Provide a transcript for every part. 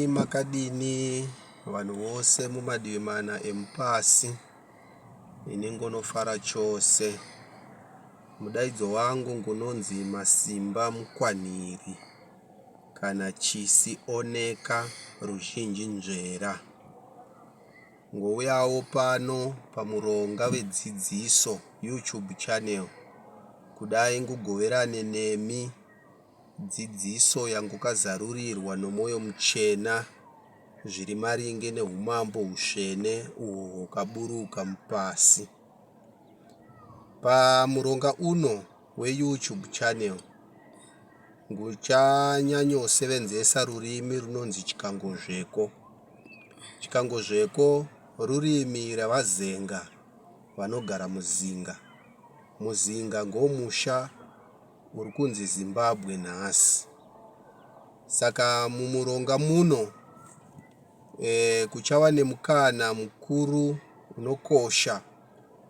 makadini vanhu vose mumadivi mana emupasi ini ngonofara chose mudaidzo wangu ngunonzi masimba mukwaniri kana chisi oneka ruzhinji nzvera ngouyawo pano pamuronga vedzidziso youtube channel kudai ngugoverane nemi Dzidziso yangokazarurirwa nomwoyo muchena zviri maringe neumambo husvene uhwo hwakaburuka pasi. Pamuronga uno weYouTube channel, nguchanyanyosevenzesa rurimi runonzi Chikangozveko. Chikangozveko rurimi ravaZenga vanogara muZinga. MuZinga ngomusha Uri kunzi Zimbabwe nhasi. Saka mumuronga muno e, kuchava nemukana mukuru unokosha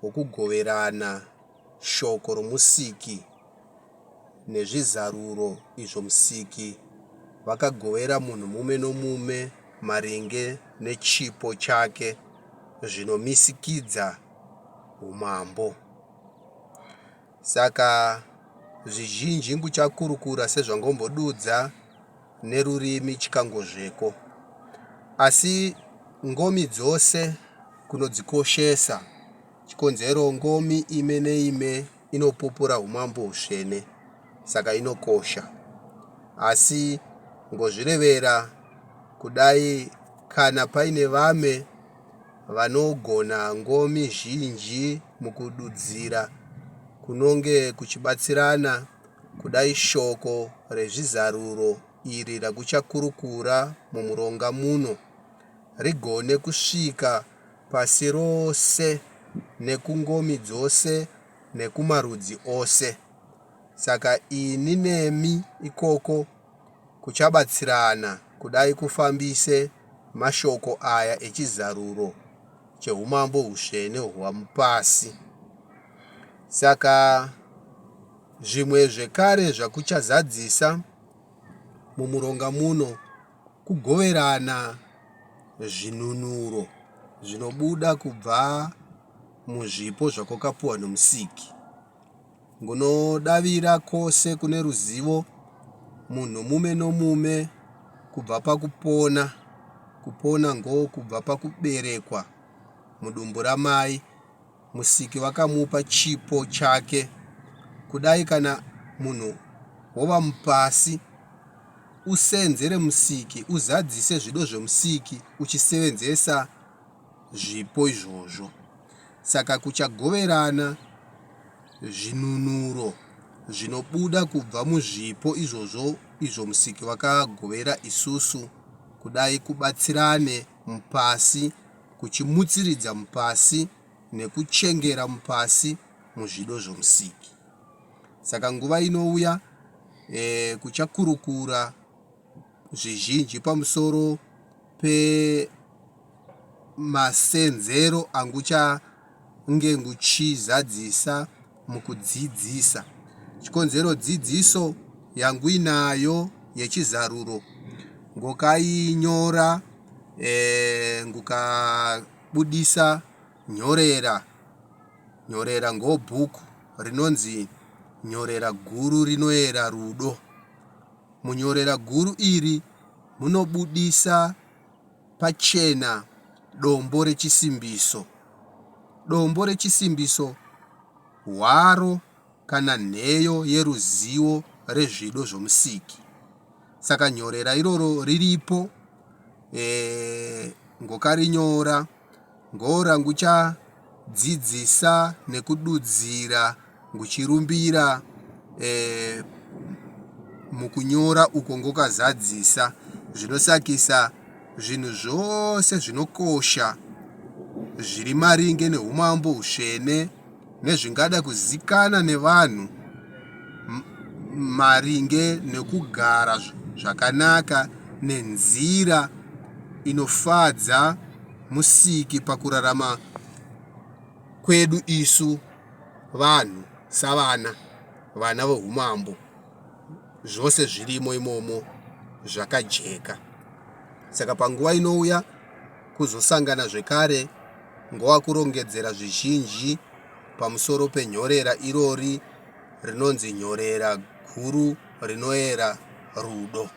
wokugoverana shoko romusiki nezvizaruro izvo musiki vakagovera munhu mume nomume maringe nechipo chake zvinomisikidza umambo. Saka zvizhinji nguchakurukura sezvangombodudza nerurimi chikangozveko. Asi ngomi dzose kunodzikoshesa. Chikonzero ngomi ime neime inopupura umambo usvene, saka inokosha. Asi ngozvirevera kudai kana paine vame vanogona ngomi zhinji mukududzira kunonge kuchibatsirana kudai shoko rezvizaruro iri rakuchakurukura mumuronga muno rigone kusvika pasi rose nekungomi dzose nekumarudzi ose. Saka ini nemi ikoko kuchabatsirana kudai kufambise mashoko aya echizaruro cheumambo husvene hwamupasi. Saka zvimwe zvekare zvakuchazadzisa mumuronga muno kugoverana zvinunuro zvinobuda kubva muzvipo zvakwakapuwa nomusiki. Ngunodavira kose kune ruzivo munhu mume nomume kubva pakupona kupona ngo kubva pakuberekwa mudumbu ramai musiki vakamupa chipo chake kudai kana munhu wova mupasi usenzere musiki uzadzise zvido zvemusiki uchisevenzesa zvipo izvozvo. Saka kuchagoverana zvinunuro zvinobuda kubva muzvipo izvozvo izvo Musiki vakagovera isusu, kudai kubatsirane mupasi, kuchimutsiridza mupasi, nekuchengera mupasi muzvido zvoMusiki. Saka nguva inouya, eh, kuchakurukura zvizhinji pamusoro pemasenzero anguchange nguchizadzisa mukudzidzisa. Chikonzero dzidziso yanguinayo yechizaruro ngokainyora e, ngukabudisa nyorera nyorera ngobhuku rinonzi Nyorera Guru Rinoera Rudo. Munyorera guru iri munobudisa pachena dombo rechisimbiso. Dombo rechisimbiso hwaro kana nheyo yeruzivo rezvido zvomusiki. Saka nyorera iroro riripo e, ngokarinyora. Ngoora nguchadzidzisa nekududzira nguchirumbira e, mukunyora uko ngokazadzisa zvinosakisa zvinhu zvose zvinokosha zviri maringe neumambo usvene nezvingada kuzikana nevanhu maringe nekugara zvakanaka nenzira inofadza Musiki pakurarama kwedu isu vanhu savana vana vohumambo zvose zvirimo imomo zvakajeka saka panguva inouya kuzosangana zvekare ngoa kurongedzera zvizhinji pamusoro penhorera irori rinonzi nyorera guru rinoera rudo.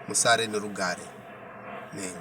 Musare nerugare. Nenga.